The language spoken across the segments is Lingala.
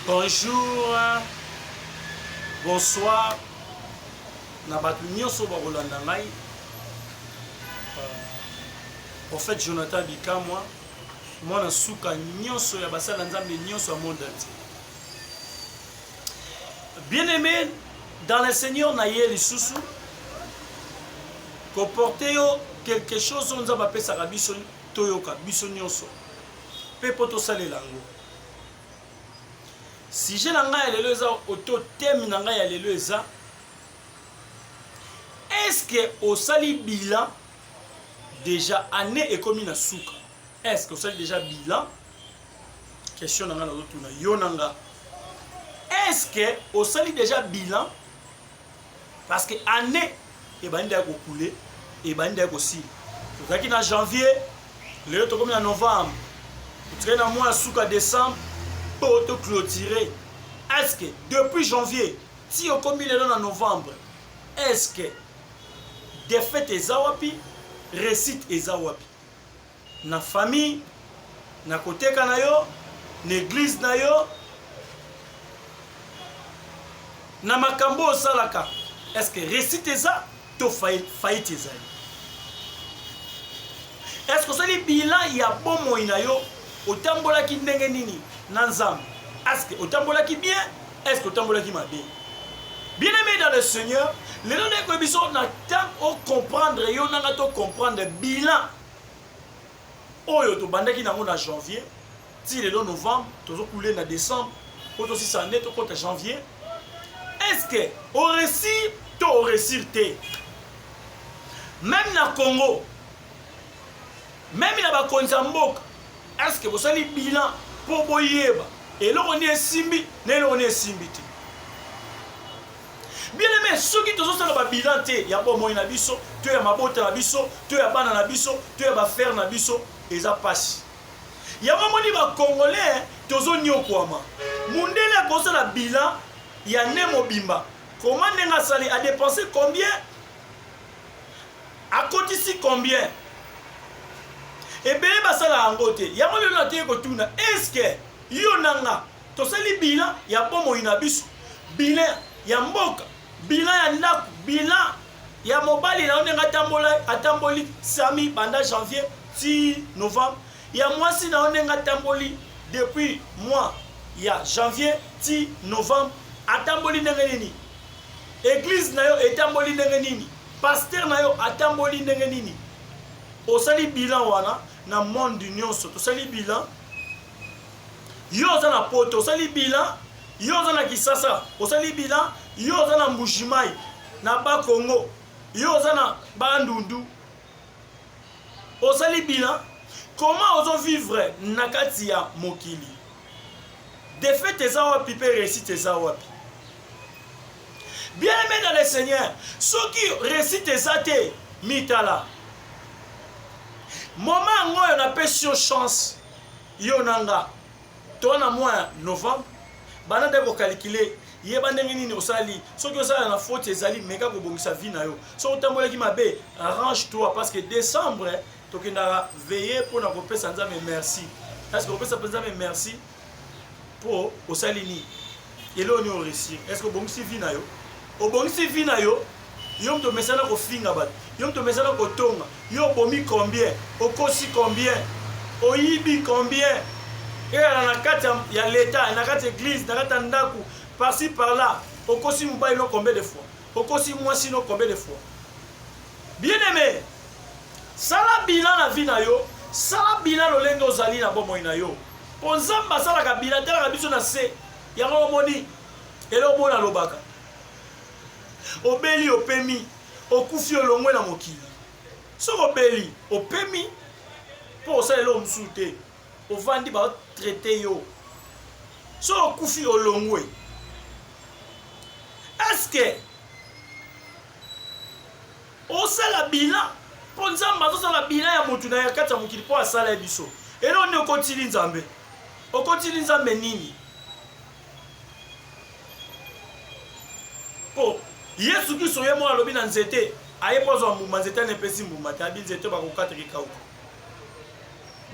Bonjour, bonsoir na bato nyonso bakolanda ngai prophète euh, Jonathan Bikamwa mwana suka nyonso ya basala nzambe nyonso ya monde entier bien aimé dans le seigneur na ye lisusu koporte yo quelque chose oyo nzambe apesaka biso toyoka biso nyonso mpe mpo tosalela yango sujet na ngai ya lelo eza oto teme na ngai ya lelo eza eske osali bilan déjà année ekomi na suka eske osali déjà bilan question na ngai nazotuna yo na nga eske osali déjà bilan parce que année ebandi ya kokule ebandi ya kosila tozalaki na janvier lelo tokomi na novembre totikali na mwa ya suka décembre mpo to clôture est ce que depuis janvier ti okomi lelo na novembre est ce que défaite eza wapi réussite eza wapi Na famille, na koteka na yo, na eglise na yo, na makambo osalaka, est-ce que réussite eza to faillite ezali? Est-ce que osali bilan ya bomoi na yo, otambolaki ndenge nini na Nzambe? Est-ce que otambolaki bien? Est-ce que otambolaki mabe? bien aimé dans le seigneur lelo nayeko biso na ntango ocomprendre yo nanga tocomprendre bilan oyo tobandaki na yango na janvier ti lelo novembre tozo coule na décembre mpo tosisa année tokota janvier est ce que oresir to oresir te meme na congo meme na bakonzi ya mboka est ce que bosali bilan mpo boyeba eloko nde esimbi na eloko nde esimbi te Bien aime, soki tozosala ba bilan te ya bomoi na biso to ya mabota na biso to ya bana na biso to ya bafere na biso eza mpasi. Yango moni bacongolais tozonyokwama. Mundele akosala bilan ya ne mobimba koma ndenge asali adepense combien akotisi combien ebele basala yango te yango lelo nateye kotuna eske yo na nga Tosali bilan ya bomoi na biso, bilan ya mboka, bilan ya ndako, bilan ya mobali na yo ndenge atambola atamboli sami banda janvier ti novembre ya mwasi na yo ndenge atamboli depuis mois ya janvier ti novembre atamboli ndenge nini eglize na yo etamboli ndenge nini paster na yo atamboli ndenge nini osali bilan wana na monde nyonso tosali bilan yo oza na poto osali bilan yo oza na kisasa osali bilan yo oza na mbushimai na ba congo yo oza na bandundu osali bilan koma ozovivre na kati ya mokili defete eza wapi mpe resite eza wapi bien aime dans le seigneur soki resite eza te mitala moma yango oyo napesi yo chance Yo na nga to na mois ya novembre banda nde kokalikile yeba ndenge nini osali soki osala na faute ezali meka kobongisa vie na yo soki otambolaki mabe arrange toi parce que décembre tokendaka veille mpo na kopesa nzambe merci est ce que kopesa mpe nzambe merci mpo osali nini eloko nini oreussir est ce que obongisi vie na yo obongisi vie na yo yo moto omesana kofinga bato yo moto omesana kotonga yo obomi combien okosi combien oyibi combien eyala na kati ya leta na kati ya eglise na kati ya ndako parci par là okosi mobali no combien de fois okosi mwasi no combien de fois bien aimé sala bilan na vie na yo sala bilan lolenge ozali na bomoi na yo Po Nzambe asalaka bilatalaka biso na se. Yango omoni eloko mona alobaka. Obeli opemi, okufi olongwe na mokili. Soki obeli opemi po osala eloko mosusu te, ovandi ba traite yo. Soki okufi olongwe. Est-ce que Osala bilan po nzambe azo sala bilan ya mutu naye kati ya mokili po asala ye biso eloko nini okotili nzambe okotili nzambe nini po yesu kristo ye moko alobi na nzete aye mpo azwa mbuma nzete ana epesi mbuma te abi nzete bakokataka ekauka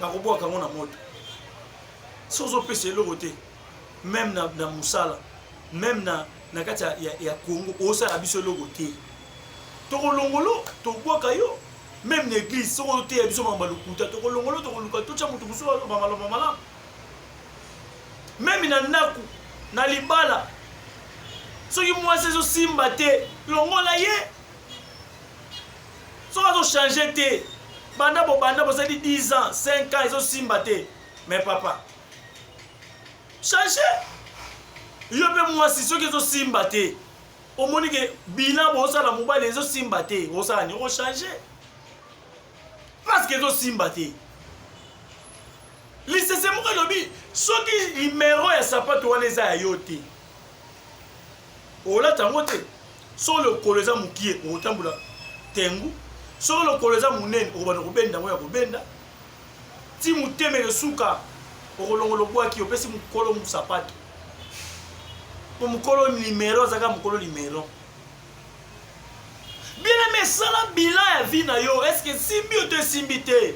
bakobwaka yango na moto so ozopesa eloko te meme na, na mosala meme na, na kati ya, ya, ya kongo osala biso eloko te tokolongolo tobwaka yo meme na eglise soki oteya biso maloba lokuta tokolongolo tokoluka totya moto mosusu aloba maloba malamu meme na ndako na libala soki mwasi ezosimba te longola ye soki azochange te banda bobanda bozali 10 ans 5 ans ezosimba te mais papa change yo mpe mwasi soki ezosimba te omoni ke bilan bozosala mobali ezosimba te osala ni ochange parceke ezosimba te lisese moko elobi soki nimero ya sapato wana eza ya yo te olata yango te soki lokolo eza mokie okotambola tengu soki lokolo eza monene okobanda kobenda yango ya kobenda Ti motema eyosuka okolongola obwaki opesi mokolo musapato po mokolo limero azaka mokolo limero bieneme esala bilan ya vie na yo eske esimbi yo to esimbi te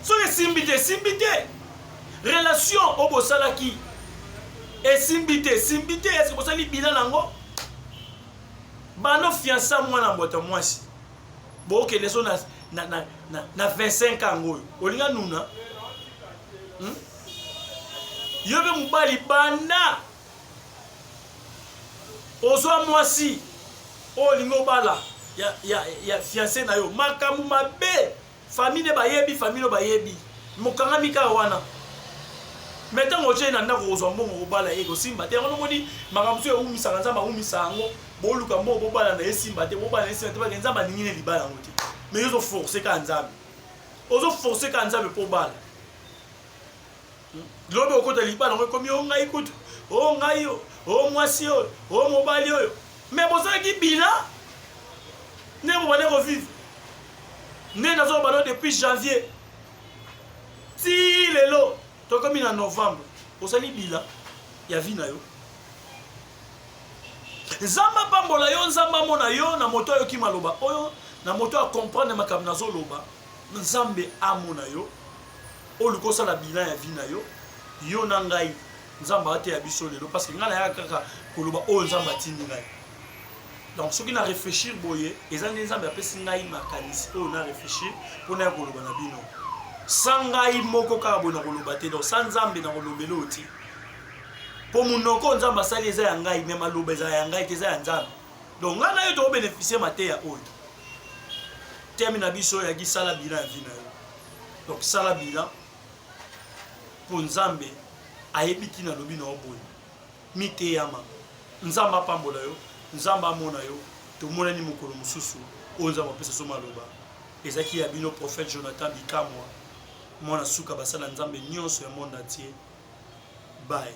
soki esimbi te esimbi te relation oyo bosalaki esimbi te esimbi te eske bosali bilan na yango bano fiansa mwana mbota mwasi bokende so na, na, na, na, na 25 yango oyo olinga nuna hmm? yo mpe mobali banda ozwa mwasi oyo olingi obala ya, ya, ya fianse na yo makambo mabe Famille ne bayebi famille no bayebi mokangami kaka wana me ntango otie ye na ndako kozwa mbongo kobala ye kosimba te yango nomoni makambo mosusu ewumisaka nzambe awumisa yango boluka mbongo bobala na esimba te bobala na esimba te bake nzambe alingi ne libala yango te me yo ozoforce kaka nzambe ozoforce kaka nzambe mpo obala Lobi okota libala yango ekomi o ngai kutu o ngai o o mwasi oyo o mobali oyo me bozalaki bila ndenge bobande kovivre nde nazoka bano depuis janvier ti lelo tokomi na novembre osali bila ya vi na yo nzambe apambola yo nzambe amona yo na moto ayoki maloba oyo na moto akomprendre makambo nazoloba nzambe amona yo oluka osala bilan ya vie na yo yo na ngai nzambe ateya biso lelo parce que ngai nayaka kaka koloba oyo nzambe atindi ngai donc soki na réfléchir boye eza nde nzambe apesi ngai makanisi oyo na réfléchir mpo naya koloba na bino sa ngai moko kaka boye nakoloba te donc sa nzambe nakolobela oyo te mpo monoko oyo nzambe asali eza ya ngai me maloba ezala ya ngai te eza ya nzambe donc ngai na yo tokobénéficie mateya oyo temi na biso yaki sala bila ya vi na yo donc sala bilan mpo nzambe ayebi ntina alobi na yo boye miteyama nzambe apambola yo nzambe amona yo tomonani mokolo mosusu oyo nzambe apesa so maloba ezalaki ya bino prophète jonathan bikamwa mwana suka basala nzambe nyonso ya monde entier baye